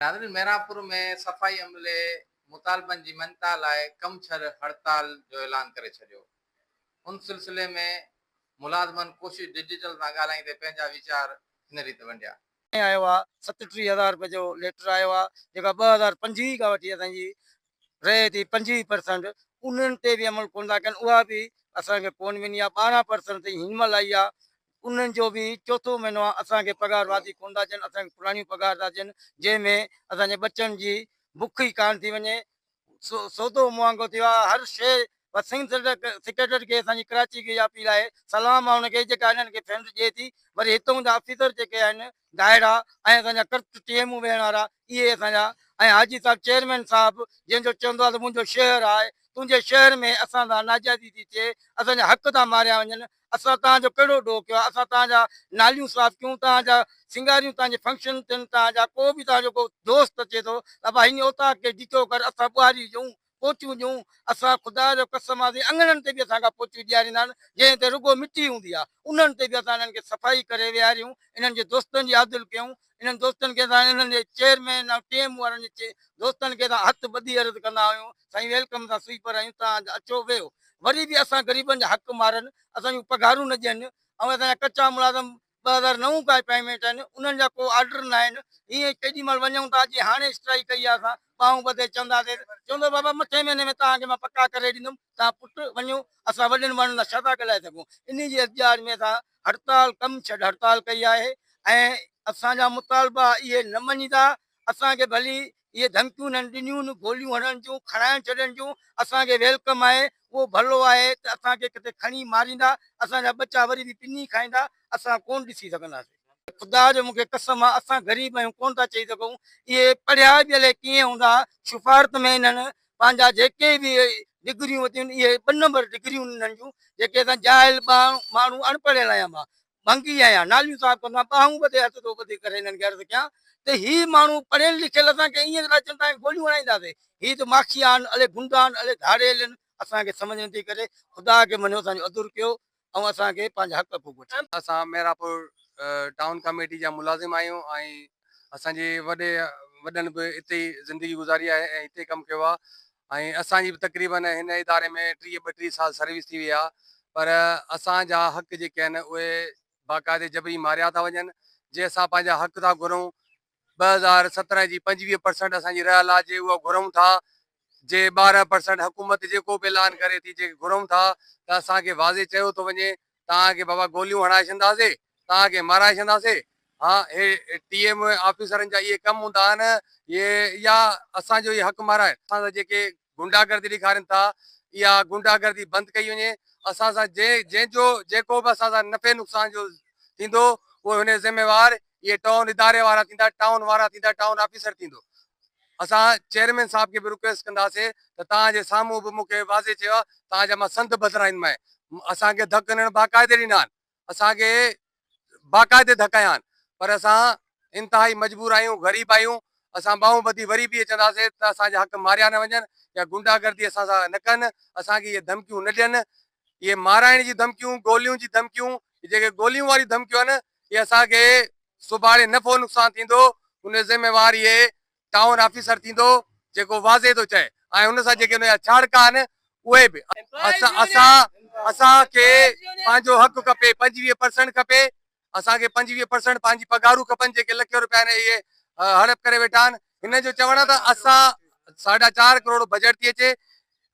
ناظرين محرابپور ۾ صفائي عملي مطالبن جي مڃتا لاء ڪم ڇڏ هڙتال جو اعلان ڪري ڇڏيو ان سلسلي ۾ ملازمن ڪوشش ڊجيٽل سان ڳالهائيندي پنهنجا ويچار هن ريت ونڊيا. ۽ آيو آ ستٽيهه هزار روپين جو ليٽر آيو آ جيڪا ٻه هزار پنجويهه کان وٺي اسان جي رهي ٿي پنجويهه پرسنٽ انهن تي به عمل ڪون ٿا ڪن اها به اسان کي ڪون ملي آ ٻارهن پرسنٽ تائين هن مهل آئي آ انهن جو به چوٿون مهينو آ اسان کي پگهار واڌي ڪونه ٿا ڏين اسان کي پراڻيون پگهار ٿا ڏين جنهن ۾ اسان جي ٻچن جي بک ئي ڪانه ٿي وڃي سودو مهانگو ٿي ويو آ هر شئي بس سنگ سيڪريٽريٽ کي اسان جي ڪراچي کي اها اپيل آهي سلام آ ان کي جيڪا انهن کي فنڊ ڏئي ٿي وري هتون جا آفيسر جيڪي آهن گاهڙا ۽ اسان جا ڪرت ٽيمون ويهڻ وارا اهي اسان جا ۽ حاجي صاحب چيئرمين صاحب جنهن جو چوندو آهي ته منهنجو شهر آهي تنهنجي شهر ۾ اسان سان ناجائزي ٿي ٿئي اسان جا حق ٿا ماريا وڃن اسان توهان جو ڪهڙو ڏوهه ڪيو آهي اسان توهان جا ناليون صاف ڪيون توهان جا سينگاريون توهان جي فنڪشن ٿين توهان جا ڪو به توهان جو ڪو دوست اچي ٿو ته ابا هن اوطاق کي ڊگهو ڪر اسان ٻهاري هجون پوچيون ڏيون، اسان خدا جو قسم آزي اڱڻن تي به اسان کان پوچيون ڏياريندا آهن، جنهن تي رڳو مٽي هوندي آهي، انهن تي به اسان انهن کي صفائي ڪري ويهاريون، انهن جي دوستن جي آڌل ڪيون، انهن دوستن کي اسان انهن جي چيئرمين ۽ ٽيم وارن جي دوستن کي اسان هٿ ٻڌي عرض ڪندا آهيون، سائين ويلڪم اسان سوئيپر آهيون، توهان اچو ويهو، وري به اسان غريبن جا حق مارن، اسان جون پگهارون نه ڏين، ۽ اسان جا ڪچا ملازم ٻه هزار نو ڪا پيمينٽ آهن انهن جا ڪو آرڊر نه آهن ائين ڪيڏي مهل وڃون ٿا جي هاڻي اسٽرائيڪ ڪئي آهي اسان ٻانهون ٻڌي چونداسين چوندو بابا مٿين مهيني ۾ توهان کي مان پڪا ڪري ڏيندم توهان پٽ وڃو اسان وڏن ماڻهن سان ڇا ٿا ڳالهائي سگهون انهي جي احتجاج ۾ اسان هڙتال ڪم ڇڏ هڙتال ڪئي آهي ۽ اسان جا مطالبا اهي نه مڃيندا اسان کي ڀلي اهي ڌمڪيون هنن ڏنيون، گوليون هڻڻ جون، کڻائڻ ڇڏڻ جون، اسان کي ويلڪم آهي، اهو ڀلو آهي ته اسان کي ڪٿي کڻي ماريندا، اسان جا ٻچا وري به پني کائيندا، اسان ڪونه ڏسي سگهنداسين. خدا جو مون کي قسم آهي، اسان غريب آهيون، ڪونه ٿا چئي سگهون. اهي پڙهيا به الائي ڪيئن هوندا، سفارت ۾ هنن پنهنجا جيڪي به ڊگريون ورتيون هنن، اهي ٻه نمبر ڊگريون هنن انهن جون، جيڪي اسان جاهل ٻانهو ماڻهو اڻپڙهيل آهيان مان، منگي آهيان ناليون صاف ڪندو آهيان ٻانهون ٻڌي هٿ ٿو ٻڌي ڪري هنن کي عرض ڪيان ته هي ماڻهو پڙهيل لکيل اسان کي ائين ٿا اچن ته آهيان گوليون هڻائينداسين هي ته ماکي آهن الي گنڊا آهن الي ڌاڙيل آهن اسان کي سمجهه نٿي ڪري خدا کي مڃيو اسان جو عذر ڪيو ۽ اسان کي پنهنجا حق ڀوڳ وٺي ڏيو. اسان ميرپور ٽائون ڪاميٽي جا ملازم آهيون ۽ اسان جي وڏي وڏن به اتي ئي زندگي گذاري آهي ۽ اتي ئي ڪم ڪيو آهي ۽ اسان جي به تقريباً هن اداري ۾ ٽيهه ٻٽيهه سال سروس ٿي وئي آهي پر اسان جا حق جيڪي آهن اهي باقاعدي جبري ماريا ٿا وڃن جي اسان پنهنجا حق ٿا گهرون ٻه هزار سترهن جي پنجويهه پرسنٽ اسان جي رهيل آهي جي اها گهرون ٿا جي ٻارهن پرسنٽ حڪومت جيڪو به اعلان ڪري ٿي جيڪي گهرون ٿا ته اسان کي واضح چيو ٿو وڃي توهان کي بابا گوليون هڻائي ڇڏنداسي، توهان کي مارائي ڇڏنداسي. ها اهي ٽي ايم آفيسرن جا اهي ڪم هوندا آهن اهي يا اسان جو اهي حق مارائين. اسان سان جيڪي غنڊا گردي ڏيکارين ٿا اها غنڊا گردي بند ڪئي وڃي. اسان سان جنهن جنهن جو جيڪو به اسان سان نفعي نقصان جو ٿيندو اهو هن جو ذميوار اهي ٽائون اداري وارا ٿيندا، ٽائون وارا ٿيندا، ٽائون آفيسر ٿيندو. اسان چيئرمين صاحب کي به رڪويسٽ ڪنداسي ته توهان جي سامهون به مون کي واضح چيو آهي توهان جا مان سنڌ بدرائين مان آهي اسان کي ڌڪ هنڻ باقاعدي ڏنا آهن اسان کي باقاعدي ڌڪايا آهن پر اسان انتهائي مجبور آهيون غريب آهيون اسان ٻانهون ٻڌي وري به چونداسي ته اسان جا حق ماريا نه وڃن يا غنڊا گردي اسان سان نه ڪن اسان کي اهي ڌمڪيون نه ڏين اهي مارائڻ جي ڌمڪيون، گوليون جي ڌمڪيون، هي جيڪي گوليون واريون ڌمڪيون آهن اهي اسان کي سڀاڻي نفعو نقصان ٿيندو ان جو ذميوار اهي ٽائون آفيسر ٿيندو جيڪو واضح ٿو چئي ۽ ان سان جيڪي ان جا ڇاڙڪا آهن اهي به اسان اسان کي پنهنجو حق کپي پنجويهه پرسنٽ کپي اسان کي پنجويهه پرسنٽ پنهنجي پگهارون کپن جيڪي لکين روپيا هن اهي هڙپ ڪري ويٺا آهن هن جو چوڻ آهي ته اسان ساڍا چار ڪروڙ بجيٽ ٿي اچي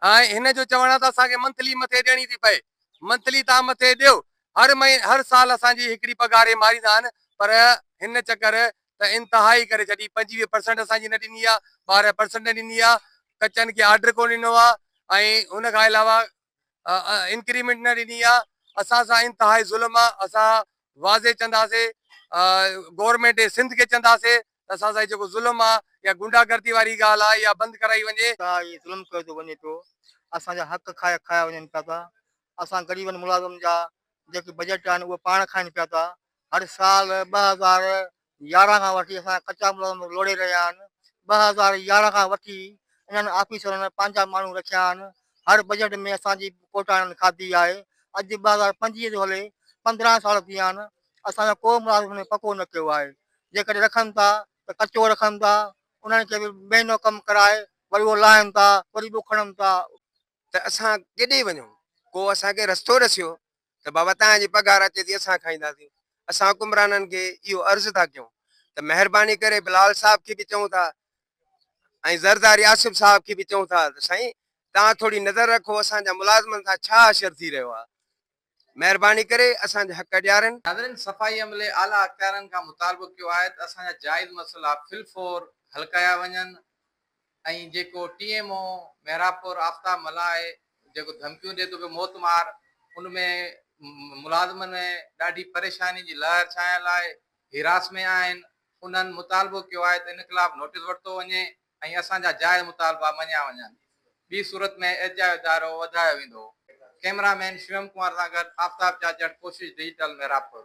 ۽ هن جو چوڻ آهي ته اسان کي منٿلي مٿي ڏيڻي ٿي پئي منٿلي تان مٿي ڏيو هر مهين هر سال اسان جي هڪڙي پگهار هي ماريندا آهن پر هن چڪر ته انتهائي ڪري ڇڏي پنجويهه پرسنٽ اسان جي نه ڏني آهي ٻارهن پرسنٽ نه ڏني آهي ڪچن کي آرڊر ڪونه ڏنو آهي ۽ ان کان علاوه انڪريمينٽ نه ڏني آ اسان سان انتهائي ظلم آ اسان واضح چنداسي گورمينٽ سنڌ کي چنداسي ته اسان سان جيڪو ظلم آ يا غنڊا گردي واري ڳالهه آ يا بند ڪرائي وڃي. سان هي ظلم ڪيو ٿو وڃي پيو اسان جا حق کايا کايا وڃن پيا ٿا اسان غريبن ملازم جا جيڪي بجيٽ آهن اهي پاڻ کائن پيا ٿا هر سال ٻه هزار يارهن کان وٺي اسان جا ڪچا ملازم لوڙهي رهيا آهن، ٻه هزار يارهن کان وٺي انهن آفيسرن پنهنجا ماڻهو رکيا آهن، هر بجيٽ ۾ اسان جي ڪوٽا انهن کاڌي آهي، اڄ ٻه هزار پنجويهه ٿو هلي پندرهن سال ٿي ويا آهن، اسان جو ڪو ملازم هن ۾ پڪو نه ڪيو آهي، جيڪڏهن رکن ٿا ته ڪچو رکن ٿا، انهن کي به مهينو ڪم ڪرائي وري اهو لاهن ٿا وري ٻيو کڻن ٿا، ته اسان ڪيڏي وڃون، ڪو اسان کي رستو ڏسيو ته بابا توهان جي پگهار اچي ٿي اسان کائينداسين اسان حڪمرانن کي اهو عرض ٿا ڪيون ته مهرباني ڪري بلال صاحب کي به چئون ٿا ۽ زرداري آصف صاحب کي به چئون ٿا ته سائين توهان ٿوري نظر رکو اسان جا ملازمن سان ڇا حشر ٿي رهيو آهي مهرباني ڪري اسان جا حق ڏيارين. ناظرين صفائي عملي اعليٰ اختيارين کان مطالبو ڪيو آهي ته اسان جا جائز مسئلا في الفور حل ڪيا وڃن، ۽ جيڪو ٽي ايم او محرابپور آفتاب ملاح آهي جيڪو ڌمڪيون ڏي ٿو پيو موت مار ان ۾ ملازمن ۾ ڏاڍي پريشاني جي لهر ڇانيل آهي هراس ۾ آهن انهن مطالبو ڪيو آهي ته ان خلاف نوٽيس ورتو وڃي ۽ اسان جا جائز مطالبا مڃيا وڃن ٻي صورت ۾ احتجاج ادارو وڌايو ويندو ڪئميرا مين شويم ڪمار سان گڏ آفتاب چاچڙ ڪوشش ڊجيٽل محرابپور.